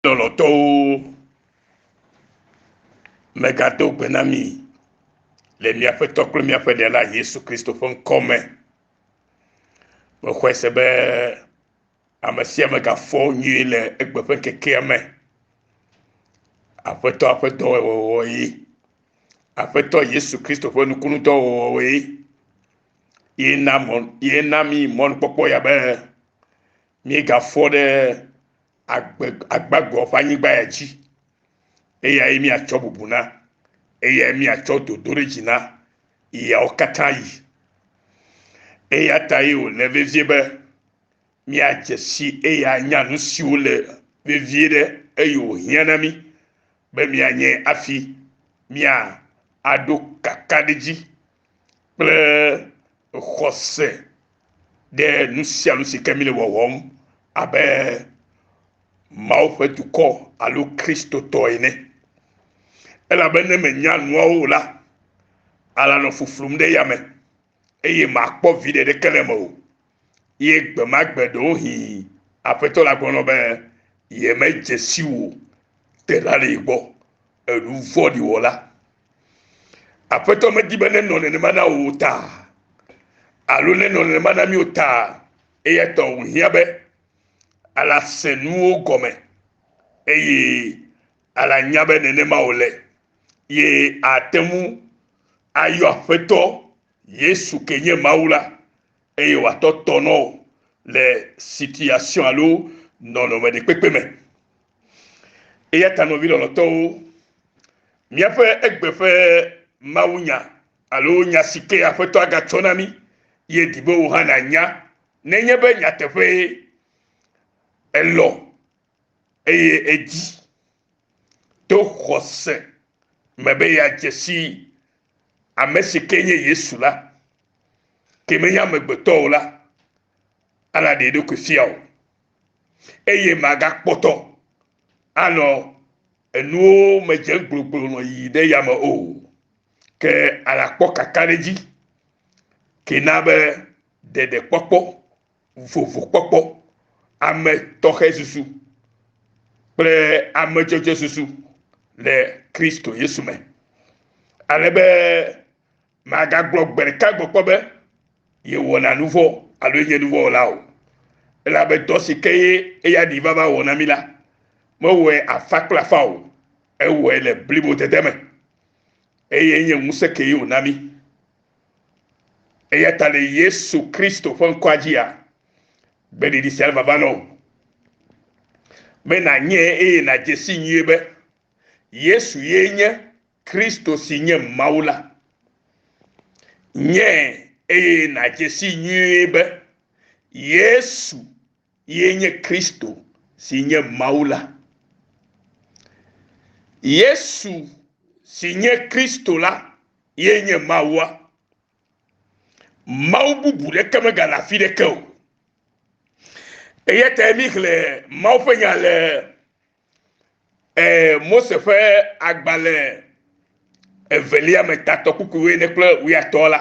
Lɔlɔtɔwo, megado gbe na mi le miaƒe tɔ kple miaƒe ɖela Yesu Kristo ƒe ŋkɔ me. Mexɔe se be ame sia ame gafɔ nyuie le egbe ƒe kekea me. Aƒetɔ aƒe dɔwɔwɔwɔ ye. Aƒetɔ Yesu Kristo ƒe nukunudɔwɔwɔ ye. Ye na mɔ ye na mi mɔnukpɔkpɔ ya be míegafɔ ɖe agbe agbagɔ ƒe anyigba ya dzi eyae míatsɔ bubu na eyae míatsɔ dodo ɖe dzi na yawo katã yi eya ta ye wòle vevie be míadze si eya anya nu siwo le vevie ɖe eye wòhiã na mí be míanye afi mía aɖo kakaɖedzi kple xɔse ɖe nu sia nu si ke mi le wɔwɔm abe Mawu ƒe dukɔ alo Kristotɔ ene. Elabe ne menya nuawo o la, alanɔ fuflum ɖe yame eye makpɔ viɖe ɖeke le eme o. Ye gbe ma gbe ɖewohĩ Aƒetɔ la gblɔ be, Yemedze si wò tela le gbɔ, ènu vɔ̃ɖi wɔla. Aƒetɔ medi be nenɔ nenema na wò o ta, alo nenɔ nenema na mí o ta, eya ta wòhiã be ala se nuwo gɔme, eye ala nya be nenema wòle, ye ate ŋu ayɔ Aƒetɔ Yesu ke nye Mawu la eye wòatɔ tɔ nɔ wò le situation alo nɔnɔme ɖekpekpe me. Eya ta nɔvi lɔlɔtɔwo, míaƒe egbe ƒe mawunya alo nya si ke Aƒetɔ agatsɔ na mí ye di be wò hã nànya nenye be nyateƒee èlɔ̃ eye èdi to xɔse me be yeadze si ame si ke nye Yesu la, ke menye amegbetɔ o la, ana ɖe ɖokui fia o, eye magakpɔtɔ anɔ enuwo me dze gbloglo nɔ yi ɖe yame o, ke anakpɔ kakaɖedzi, ke na be ɖeɖekpɔkpɔ vovokpɔkpɔ, ame tɔxɛ susu kple ame dzɔdzɔ susu le Kristo Yesu me. Ale be magagblɔ gbe ɖeka gbɔkpɔ be yewɔna nu vɔ alo nye nu vɔ wɔla o. Elabe dɔ si ke ye eya ɖi vava wɔ na mi la, mewɔe afa kple afa o, ewɔe le blibodede me, eye nye ŋusẽ kee wòna mi. Eya ta le Yesu Kristo ƒe ŋkɔa dzia, gbeɖiɖi sia le vava nɔ wò be nànyɛ eye nàdze si nyuie be Yesu ye nye Kristo si nye Mawu la. Nyɛ eye nàdze si nyuie be Yesu Ye nye Kristo si nye Mawu la. Yesu si nye Kristo la ye nye Mawua. Mawu bubu ɖeke megale afi ɖeke o. Eya ta mi xlẽ Mawu ƒe nya le eh, Mose ƒe agbalẽ evelia me tatɔ kukuwoe ne kple wuyatɔ la.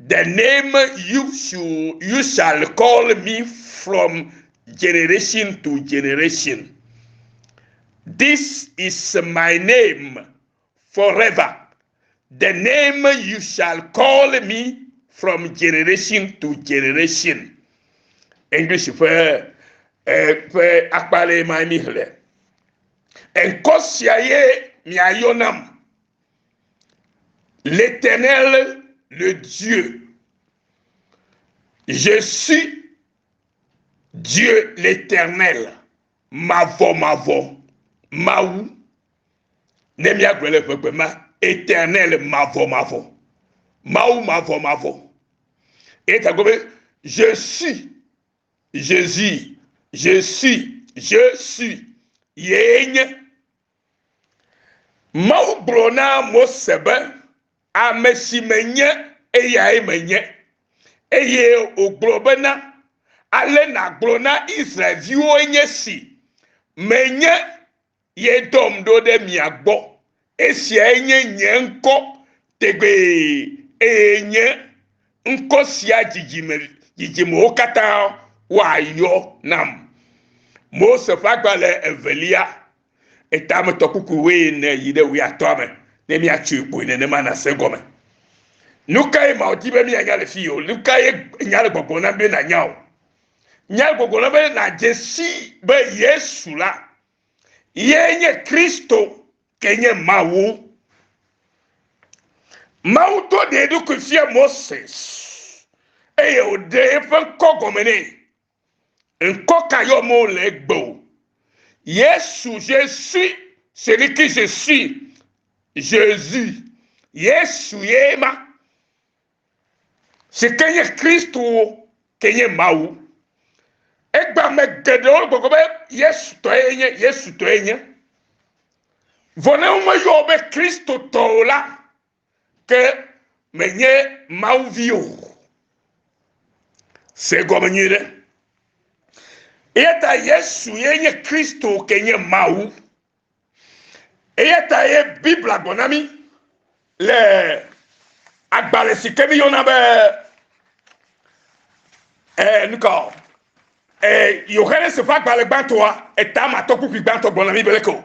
The name you should you shall call me from generation to generation. This is my name forever. The name you shall call me from generation to generation. English ƒe eh, ƒe akpa ɖe ma mi xlẽ. Ŋkɔ sia ye miayɔ nam. L'Éternel, le Dieu. Je suis Dieu l'Éternel. Mavɔ mavɔ Mawu. Ne míagblɔ le ƒegbe ma, Éternel mavɔ mavɔ. Mawu mavɔ mavɔ. Eta gɔme je suis Jésus. Je suis, je suis. Yee nye. Mawu gblɔ na Mose be, Ame si menye, eyae menye. Eye wògblɔ bena, Ale nàgblɔ na Israel-viwoe nye si, Menye ye dɔm ɖo ɖe mia gbɔ. Esiae nye nye ŋkɔ tegbee, eye nye ŋkɔ sia dzidzime dzidzimewo katã woayɔ nam. Mose ƒe agbalẽ evelia Etametɔ kuku wuiene yi ɖe wuiatɔa me ne míatsoe kpoe nenema nàse gɔme. Nu kae Mawu di be míanya le fii o? Nu kae nya le gbɔgblɔm na mi be nànya o? Nya le gbɔgblɔm na be nàdze si be Yesu la ye nye Kristo ke nye Mawu. Mawu do ɖe eɖokui fia Moses eye wòɖe eƒe ŋkɔ gɔme nɛ. Ŋkɔ ka yɔm wole egbe o. Yesu, je suis celui qui je suis, Jesus, Yesu ye ma, si ke nye Kristo wo, ke nye Mawu. Egbea me geɖewo gbɔgblɔ be Yesu tɔ ye nye, Yesu tɔ ye nye. Vɔ ne womeyɔ wo be Kristo tɔ o la, Ke menye Mawu vi o. Se gɔme nyui ɖe. Eya ta Yesu ye nye Kristo ke nye Mawu. Eya ta ye Biblia gblɔ na mí le agbalẽ si ke míyɔna be eh, nukɔ eh, Yohanes ƒe agbalẽ gbãtɔa, etama tɔkpukpui gbãtɔ gblɔ na mí be leke o.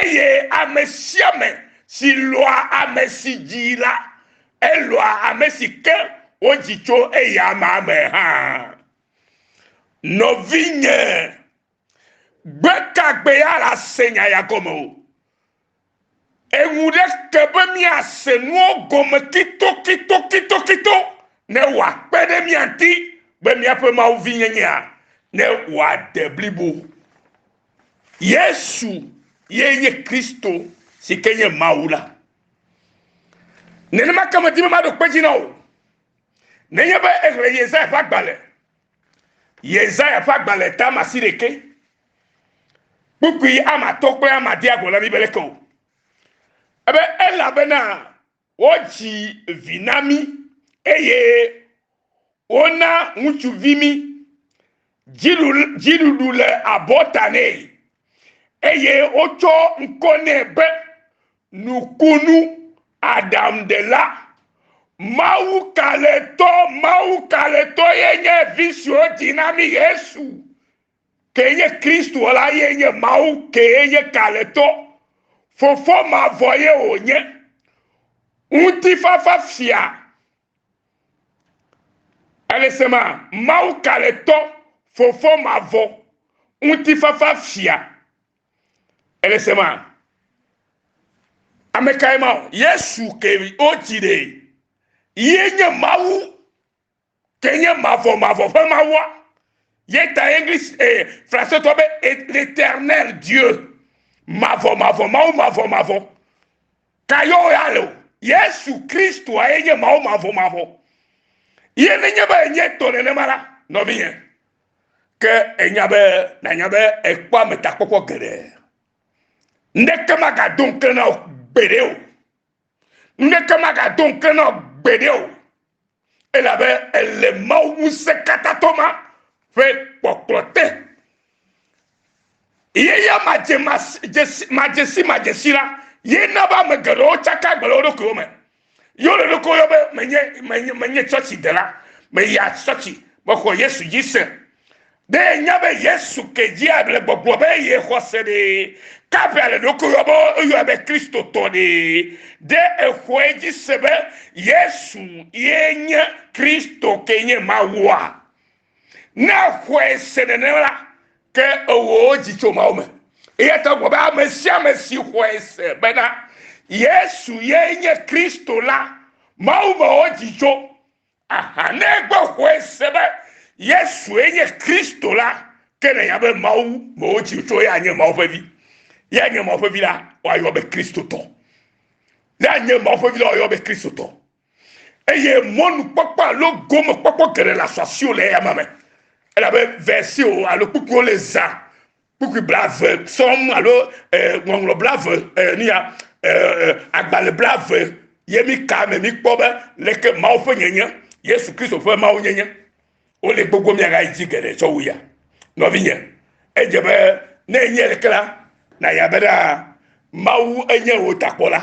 Eye ame sia ame si lɔ̃a ame si dzi la, elɔ̃a ame si ke wodzi tso eya amea me hã. Nɔvinye, gbe ka gbe ya la se nya ya gɔme o. Eŋu ɖe ke be míase nuwo gɔme kitokitokitokito ne wòakpe ɖe mía ŋuti be míaƒe Mawu vinyenyea ne wòade blibo. yesu ye nye kristo si ke nye mawu la nenema ke medi be maɖo kpe dzi na o nenye be exlẽ yesaya ƒe agbalẽ yesaya ƒe agbalẽ ta ma si ɖeke kpukpui ama atɔ kple ama dia gɔla mi be leke o ebe elabena Wodzi vi na mí, eye wona ŋutsuvi mí. Dziɖuɖu le abɔta nɛ, eye wotsɔ ŋkɔ nɛ be Nukunu Aɖaŋuɖela. Mawu Kalẽtɔ, Mawu Kalẽtɔ ye nye vi si wodzi na mí, Yesu. Kee nye Kristo la ye nye Mawu kee nye kalẽtɔ. Fofo mavɔ ye wònye. Ŋutifafa fia. Elesema, Mawu kalẽtɔ, Fofo mavɔ, ŋutifafa fia. Elesema, amekae ma o? Yesu kee wodzi ɖee. Ye nye Mawu ke nye mavɔ mavɔ ƒe mawua ye ta english eh, francetɔ be l'éternel dieu mavɔ mavɔ mawu mavɔ mavɔ ka yewo ya le o yesu kristoa ye nye mawu mavɔ mavɔ ye nenye be enye tɔ nenema la nɔvinyɛ ke enya be nanya be ekpɔ ametakpɔkpɔ geɖe ŋɖeke magado ŋkle na o gbeɖe o ŋɖeke magado ŋkle na o gbeɖe o elabe èle Mawu Ŋusẽkatãtɔ ma ƒe kpɔkplɔ te. Ye ya madzesimadzesi la, ye na be ame geɖewo tsaka agbe le wo ɖokuiwo me. Ye wole ɖokuiwo yɔ be menye menye menye tsɔtsidela, meya tsɔtsi, mexɔ Yesu dzi se. Be nya be Yesu ke dzi able gbɔgblɔ be ye xɔse ɖe kaƒe ale ɖokui yɔ be eyɔ be Kristo tɔ ɖe. Ɖe exɔe dzi se be Yesu ye nye Kristo ke nye Mawua? Ne exɔe se nenema la, ke ewɔ dzi tso Mawu me. Eya ta wogblɔ be ame sia ame si xɔe se bena Yesu ye nye Kristo la, Mawu me wɔ dzi tso. Aha ne egbe xɔe se be Yesue nye Kristo la, ke nènya be Mawu me wotsi ŋutsu eya nye Mawu ƒe vi. Ya nye Mawu ƒe vi la, woayɔ be Kristotɔ. Ne anye Mawu ƒe vi la, woayɔ be Kristotɔ. Eye mɔnukpɔkpɔ alo gomekpɔkpɔ geɖe le asɔ asiwo le eya ma me. Elabe versiwo alo kpukpuwo le zã kpukpui blave sɔm alo ŋɔŋlɔ blave nuya agbalẽ blave ye mi ka me mi kpɔ be leke mawu ƒe nyenye yesu kristo ƒe mawu nyenye wole gbogbo miaga yi dzi geɖe tsɔ wu ya nɔvinye edze be ne enye leke la na ya be ɖa mawu enye wò takpɔla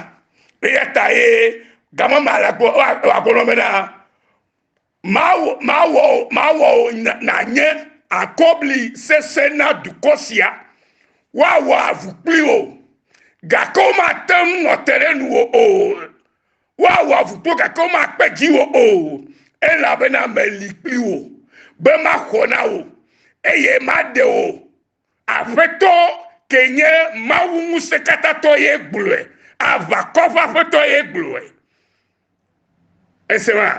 eya ta ye gamama la gbɔ wa gbɔ nɔ be na Mawɔ wò nànye akɔbli sesẽ na dukɔ sia, woawɔ avu kpli wò, gake womate ŋu ate ɖe nuwò o. Woawɔ avu kpli wò, gake womakpe dziwò o, elabena meli kpli wò, be maxɔ na wò, eye maɖe wò Aƒetɔ ke nye Mawu ŋusẽkatãtɔ ye gblɔe. Aʋakɔ ƒe Aƒetɔ ye gblɔe. Ese ma?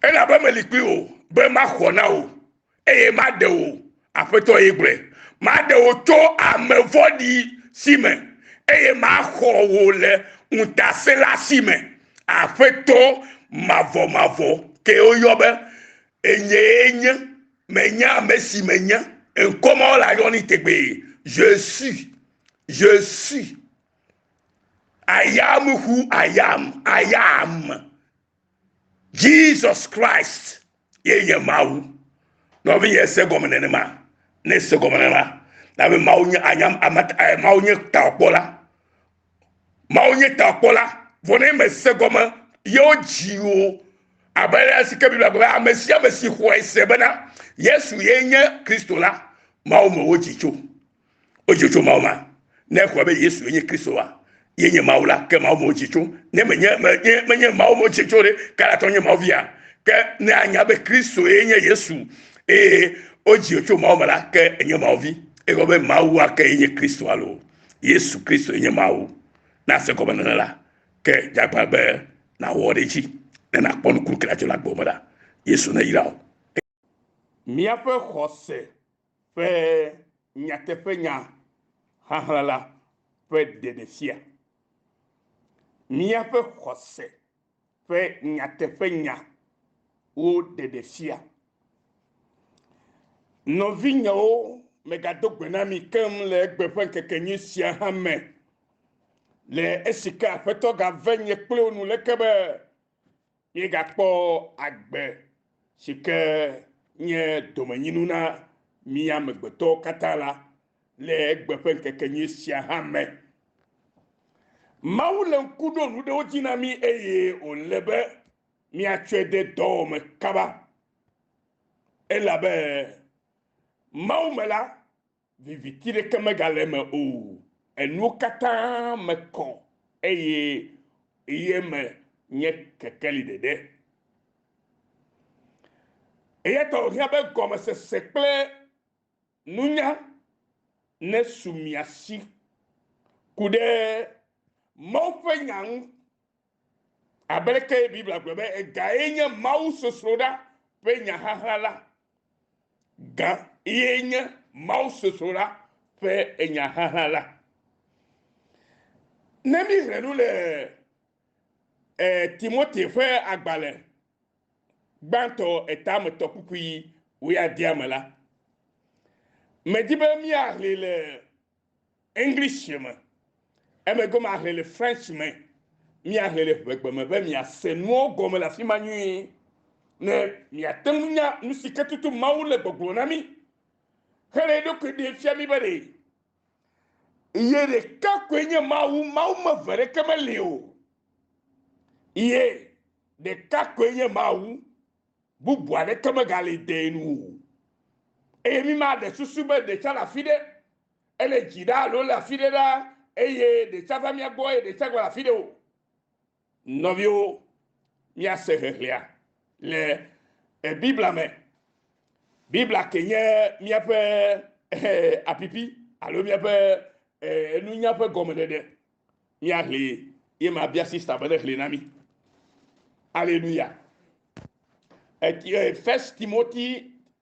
Elabe meli kpli wò be maxɔ na wò, eye maɖe wò, Aƒetɔ ye gblɔe. Maɖe wò tso ame vɔ̃ɖi si me, eye maxɔ wò le ŋutasẽla si me. Aƒetɔ mavɔmavɔ kee woyɔ be, Enyee nye. Menya ame si menye. Ŋkɔ ma wole ayɔ ni tegbee. Je suis. Je suis. I am who I am. I am. Jesus Christ ye nye Mawu. Nɔvinye se gɔme nenema. Ne se gɔme nenema. Na be Mawu nye anyam amat eh, Mawu nye taɔkpɔla. Mawu nye takpɔla, vɔ ne mèse gɔme yewo dzi o, abe ale si ke Biblia gblɔ be ame sia ame si xɔe se bena Yesu ye nye Kristo la, Mawu me wodzi tso. Wodzi tso Mawu ma. Ne exɔe be Yesu nye Kristo wa, ye nye Mawu la, ke Mawu me wodzi tso. Ne menye menye menye Mawu me wodzi tso ɖe, kalatɔ nye Mawu via. Ke ne anya be Kristo ye nye Yesu eye wodzi tso Mawu me la, ke enye Mawu vi. Egɔme be Mawu ake ye nye Kristo alo Yesu Kristo nye Mawu. Na se gɔmenɔnɔ la, ke dzagbã be nàwɔ ɖe edzi ne nàkpɔ nukunu ke adzɔ le agbewo me la. Yesu neyra wò. Míaƒe xɔse ƒe nyateƒenya ʋaʋla la ƒe ɖeɖefia. Míaƒe xɔse ƒe nyateƒenya wo ɖeɖe fia. Nɔvinyewo, megado gbe na mi keŋ le egbe ƒe ŋkekenyui sia hã me, le esi ke Aƒetɔ gave nye kple wo nu leke be míegakpɔ agbe si ke nye domenyinu na mí amegbetɔwo katã la, Le egbe ƒe ŋkekenyui sia hã me, Mawu le ŋku ɖom nu ɖewo dzi na mí eye wòle be míatsɔe de dɔwɔme kaba. Elabe Mawu me la, viviti ɖeke megale eme o, enuwo katã me kɔ eye ye me nye kekeli ɖeɖe. Eya ta wòhiã be gɔmesese kple Nunya nesu mia si ku ɖe Mawu ƒe nya ŋu. Abe aleke Biblia gblɔ be egae nye Mawu sosroɖa ƒe nya xaxlã la, ga ye nye Mawu sosroɖa ƒe enya xaxlã la. Ne míexlẽ nu le eh, Timote ƒe agbalẽ gbãtɔ etametɔkpukpui wuiadea me la, medi be míaxlẽe le English me, emegbe maxlẽe le French me, míaxlẽe le ʋegbe me be miase nuawo gɔme le afi ma nyuie, ne miate ŋu nya nu si ke tutu Mawu le gbɔgblɔm na mí hele eɖokui ɖem fia mí be ɖe Ye ɖeka koe nye Mawu, Mawu meve ɖeke meli o. Ye ɖeka koe nye Mawu, bubu aɖeke megali dee nu o. Eye mi maɖe susu be ɖe tsã le afi ɖe, ele dzi ɖa alo ele afi ɖe ɖa, eye ɖe tsã va mía gbɔ eye ɖe tsã gale afi ɖe o. Nɔviwo, míase ʋeʋlea le Biblia me. Biblia ke nye míaƒe apipi alo míaƒe nunya ƒe gɔmeɖeɖe. Míaʋlee ye mabia sista be neʋlee na mí. Aleluya. First Timothy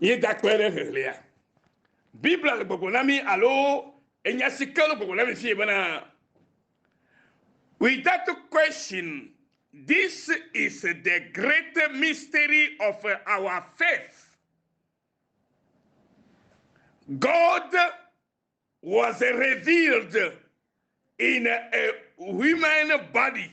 Míegakpɔe ɖe ʋeʋlea. Biblia le gbɔgblɔ na mí alo enya si ke le gbɔgblɔ na mí fiye bena, With that question, this is the great mystery of our faith. God was revealed in a human body.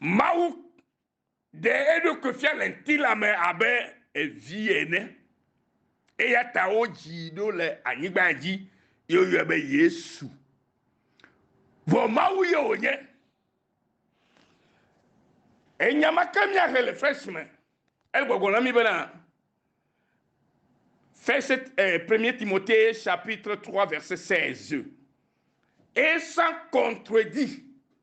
Mawu ɖe eɖokui fia le ŋutilã me abe vi ene, eya ta wodzii ɖo le anyigba dzi ye woyɔe be Yesu. Vɔ Mawu ye wònye. Enya ma ke míahe le French me. Ele gbɔgblɔm na mí bena, First, eh, Premier Timothée chapitre 3 verset 16. Et sans contredit.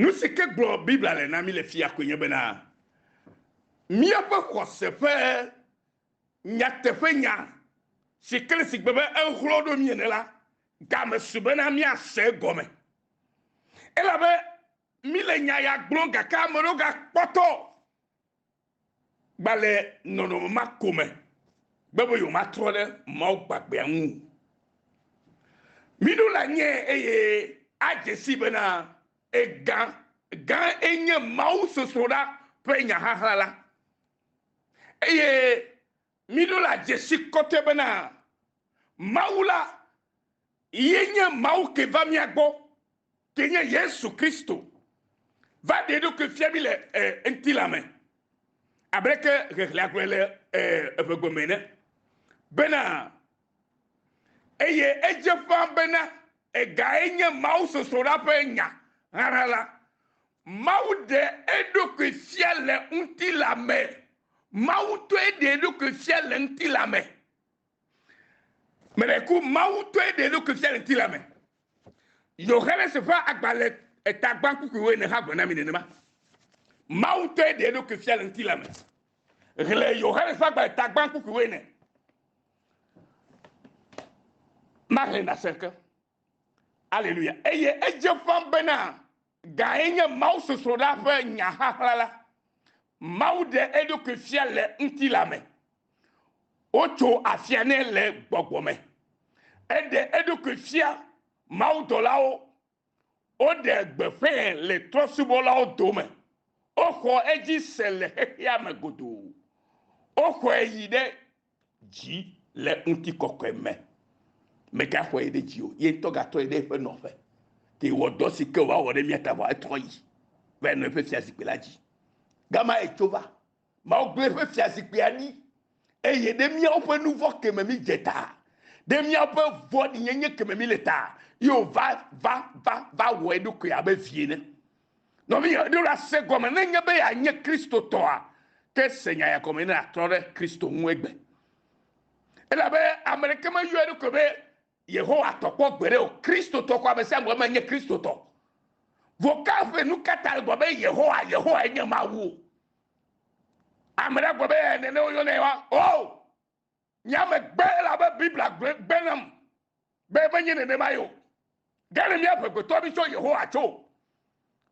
Nusi ke gblɔ Biblia le na mí le fia koe nye bena míaƒe xɔse ƒe nyateƒenya si kle si gbe be ehlɔ̃ ɖo mí ene la game su bena míase egɔme. Elabe míle nya ya gblɔm gake ame aɖewo gakpɔtɔ gba le nɔnɔme ma ko me be be yewomatrɔ ɖe Mawu gbagbeawo ŋu o. Miɖo la nye eye adze sii bena egã gã enye mawusɔsrɔ̃ la ƒe nyaxaxla la eye Miɖo la dzesi kɔte bena Mawu la ye nye Mawu ke va mía gbɔ, ke nye Yesu Kristo, va ɖe eɖokui fia mí le ŋutilã me, ableke ʋeʋlea gblɔe le eŋegbe me ene, bena, Eye edze ƒã bena egae nye Mawu sɔsrɔ̃ la ƒe nya ɣaɣla, Mawu ɖe eɖokui fia le ŋutilã me. Mawu tɔe ɖe eɖokui fia le ŋutilã me. Meɖe ku Mawu tɔe ɖe eɖokui fia le ŋutilã me. Yohanes ƒe agbalẽ etagbankpukpuiwo ene hã gblɔ na mi nenema. Mawu tɔe ɖe eɖokui fia le ŋutilã me. Xlẽ Yohanes ƒe agbalẽ etagbankpukpuiwo ene. Maxlẽ na se ke. Aleluya. Eye edze ƒã bena Gae nye mawusɔsrɔ̃la ƒe nyaxaxlã la, Mawu ɖe eɖokui fia le ŋutilã me. Wotso afia nɛ le gbɔgbɔ me. Eɖe eɖokui fia mawudɔlawo. Woɖe gbeƒãe le trɔ̃subɔlawo dome. Woxɔ edzi se le xexeame godoo. Woxɔe yi ɖe dzi le ŋutikɔkɔe me. Megaxɔe ɖe dzi o, ye ŋutɔ gatɔe ɖe eƒe nɔƒe. Ke wɔ dɔ si ke wòawɔ ɖe mía ta vɔ etrɔ yi va yi nɔ eƒe fiazikpui la dzi. Gama etso va. Mawu gblẽ eƒe fiazikpuia ɖi eye ɖe míawo ƒe nu vɔ̃ ke me mídze ta, ɖe míaƒe vɔ̃ɖinyenye ke me míle ta, ye wòva va va va wɔ eɖokui abe vi ene. Nɔvinye, èɖo ɖe ase gɔme ne enye be yeanye Kristotɔa? Ke se nya ya gɔme ne nàtrɔ ɖe Kristo ŋu egbe. Elabe ame ɖeke meyɔ eɖokui be Yehowa tɔ kpɔ gbeɖe o. Kristotɔ ko amesiame wɔe menye Kristotɔ o. Vocal ƒe nukata le gɔme be Yehowa? Yehowae nye Mawu o. Ame ɖe agblɔ be, Ee, nene woyɔnae wa. Oo! Nye ame gbe elabe Biblia gblɔe gbe nam be menye nenemae o. Ɖe ne míaʋe gbetɔ mí tso Yehowa tso o,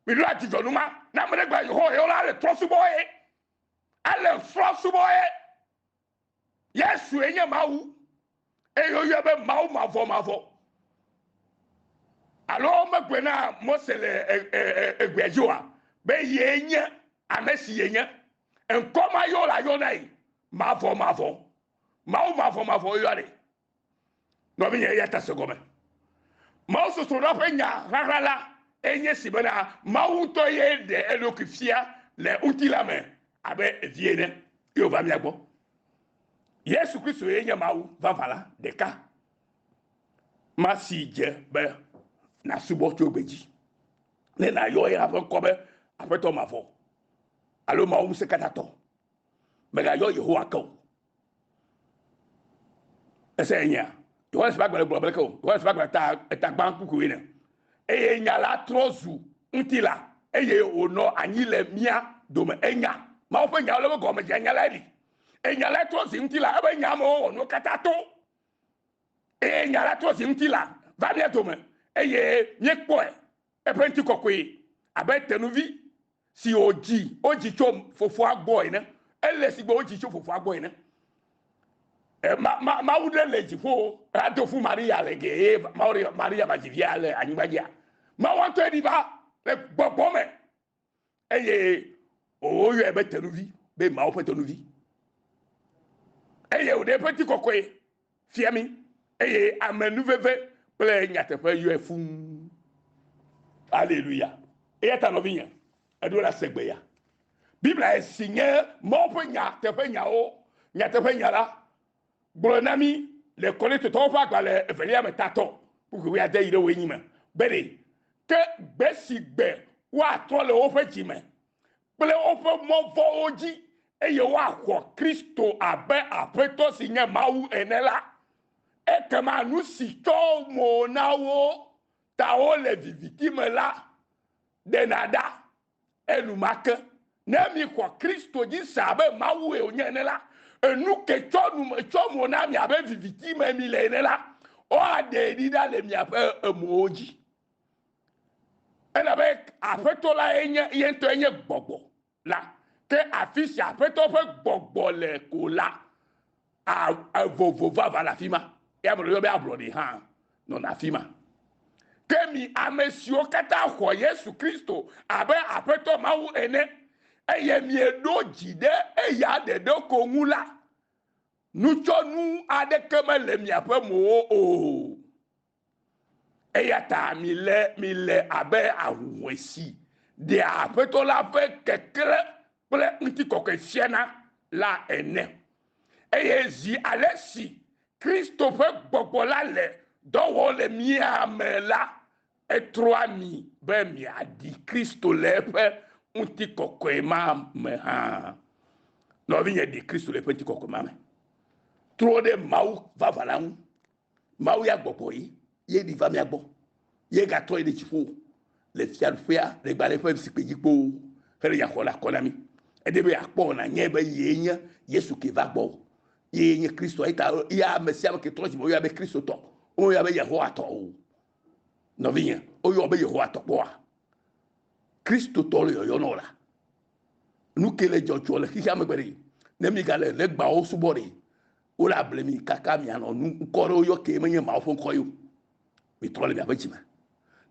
míɖo adzudzɔ nu ma. Ne ame ɖe gblɔ Yehowa yɔ la, ele trɔsubɔ ye. Ele trɔsubɔ ye. Yesue nye Mawu eye woyɔe be Mawu mavɔmavɔ. Alo megblɔe na Mose le egbea dzi oa? Be yee nye ame si yenye. Ŋkɔ ma yɔ la yɔnae Mavɔmavɔ, Mawu mavɔmavɔ yɔnɛ. Nɔvinye, eya ta se gɔme. Mawusɔsrɔ̃ɖoa ƒe nya ʋaʋã la enye si bena Mawu ŋutɔ ye ɖe eɖokui fia le ŋutilã me abe Vi ene, ye wòva mía gbɔ. Yesu Kristo ye nye Mawu vavã la ɖeka ma si dze be nàsubɔ tso gbe dzi ne nàyɔ eya ƒe ŋkɔ be Aƒetɔ mavɔ alo Mawu Ŋusẽkatãtɔ. Mègayɔ Yehowa ke o. Ese enyea? Yohanes ƒe agbalẽ gblɔ be leke o. Yohanes ƒe agbalẽ ta eta gbã kpukpuiwoe ne. Eye nya la trɔ zu ŋutilã eye wònɔ anyi le mía dome. Enya Mawu ƒe nyawo le eƒe gɔme dzia nya lae ɖi. Eye nya lae trɔ zi ŋutilã. Eƒe nya me wowɔ nuwo katã to. Eye nya la trɔ zi ŋutilã va mía dome eye míekpɔe. Eƒe ŋutikɔkɔe abe tenuvi si wòdzi wodzi tso fofoa gbɔ ene, ele si gbɔ wodzi tso fofoa gbɔ ene. E, ma, ma, Mawu ɖe le dziƒo ado fu Maria le ge eye Maria va dzi via le anyigbadzia. Mawu ŋutɔe ɖi va le gbɔgbɔ me. eye woyɔe be tenuvi be Mawu ƒe tenuvi eye wòɖe eƒe ti kɔkɔe fia mi eye ame nuveve kple nyateƒe yɔe fuu aleluya eya ta nɔvinye eɖo la se gbeya biblia si nye mɔwo ƒe nya teƒe nyawo nyateƒe nya la gblɔ na mí le Korintotɔwo ƒe agbalẽ evelia me tatɔ kpukpui wuiade yi ɖe wuienyi me be ɖe ke gbe si gbe woatrɔ le woƒe dzi me kple woƒe mɔ vɔ̃wo dzi eye woaxɔ Kristo abe Aƒetɔ si nye Mawu ene la, ekema nu si tsyɔ mo na wo ta wole viviti me la ɖena ɖa. Enumake, ne miexɔ Kristo dzi se abe Mawue wònye ene la, enu ke tsɔ nu me tsɔ mo na mi abe viviti me mile ene la, woaɖee ɖi ɖa le miaƒe emowo dzi. Elabe Aƒetɔ lae nye, ye ŋutɔe nye Gbɔgbɔ la, ke afi si Aƒetɔ ƒe Gbɔgbɔ le ko la, A, evovo vava le afi ma. Eya amea yɔ be ablɔɖi hã nɔna afi ma. Ke mi ame siwo katã xɔ Yesu Kristo abe Aƒetɔ Mawu ene, eye mieɖo dzi ɖe eya ɖeɖe ko ŋu la, nutsyɔnu aɖeke mele miaƒe mowo o. Eya ta mile, mile abe ahuhɔ̃e si ɖea Aƒetɔ la ƒe keklẽ kple ŋutikɔkɔe fiana la ene. Eye zi ale si Kristo ƒe gbɔgbɔ la le dɔ wɔm le mía me la, etrɔa mi be miaɖi Kristo le eƒe ŋutikɔkɔe ma me hã. Nɔvinye, ɖi Kristo le eƒe ŋutikɔkɔe ma me. Trɔ ɖe Mawu vavã la ŋu. Mawu ya gbɔgbɔ ye ye ɖi va mía gbɔ, ye gatrɔ yi ɖe dziƒo le Fiaɖuƒea le gbalẽ ƒe zikpui dzi kpoo hele nya xɔ le akɔ na mí. Edi be yeakpɔ o nanyae be yee nye Yesu ke va gbɔ o. Yee nye Kristoa. Eyi ta ya ame sia ame ke trɔ dzi me woyɔa be Kristotɔ, womeyɔa be Yehowatɔ o. Nɔvinye, woyɔa wò be Yehowatɔ kpɔa? Kristotɔ le yɔyɔ na wò la, nu ke le dzɔdzɔ le xexea me gbe ɖe? Ne míegale legbawo subɔ ɖe, Wole able mi kaka mianɔ nu ŋkɔ ɖewo yɔ kee menye Mawu ƒe ŋkɔ ye o. Mitrɔ le miaƒe dzime.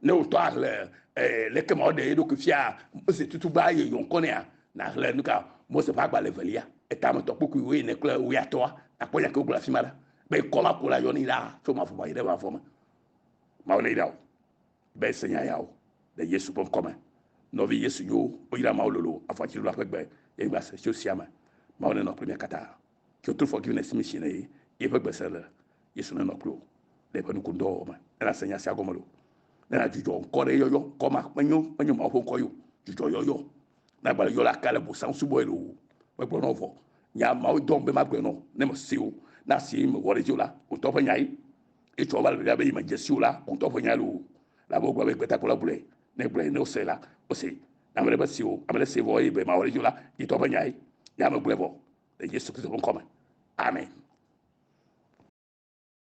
Ne wòtɔ ahlẽ eh, leke Mawu ɖe eɖokui fia Mose tutugba eye yɔ ŋkɔ nɛa? Nàhlẽ nuka? Mose ƒe agbalẽ evelia, etametɔ kpukpuiwo ene kple wuiatɔa. Nàkpɔ nya ke wogblɔ le afima ɖa be ŋkɔ ma ko la yɔnii ɖaa tso mavɔ me yi ɖe mavɔ me. Mawu ne yra wò be se nya yawo le Yesu ƒe ŋkɔ me. Nɔvi Yesu nyowo, woyra Mawu lolo avɔadziɖula ƒe gbe le anyigba se tso sia me. Mawu nenɔ kple mia katã. Tso true forgiveness mission ne ye eƒe gbese le Yesu nenɔ kpli wò le eƒe nukundɔwɔwɔ me. Ne nàse nya sia gɔme loo, ne nàdzudzɔ ŋkɔ ɖe yɔyɔ ŋkɔ ma menyo menyo Mawu ƒe ŋkɔ yo dzudzɔ yɔyɔ nagba le yɔ la ka le bosam subɔe loo megblɔ nɔ vɔ nya mawo dɔm be magblɔe nɔ ne mese o na si mewɔ ɖe dzi o la ŋutɔ ƒe nyae etsɔ va le be yi medze si o la ŋutɔ ƒe nyae loo labe wogblɔ be gbetakpɔla gblɔe ne gblɔe ne wose la wose na ame ɖe mese o ame ɖe se vɔ eye be mawɔ ɖe dzi o la yitɔ ƒe nyae ya megblɔe vɔ le Yesu Kristo ƒe ŋkɔ me. Amen.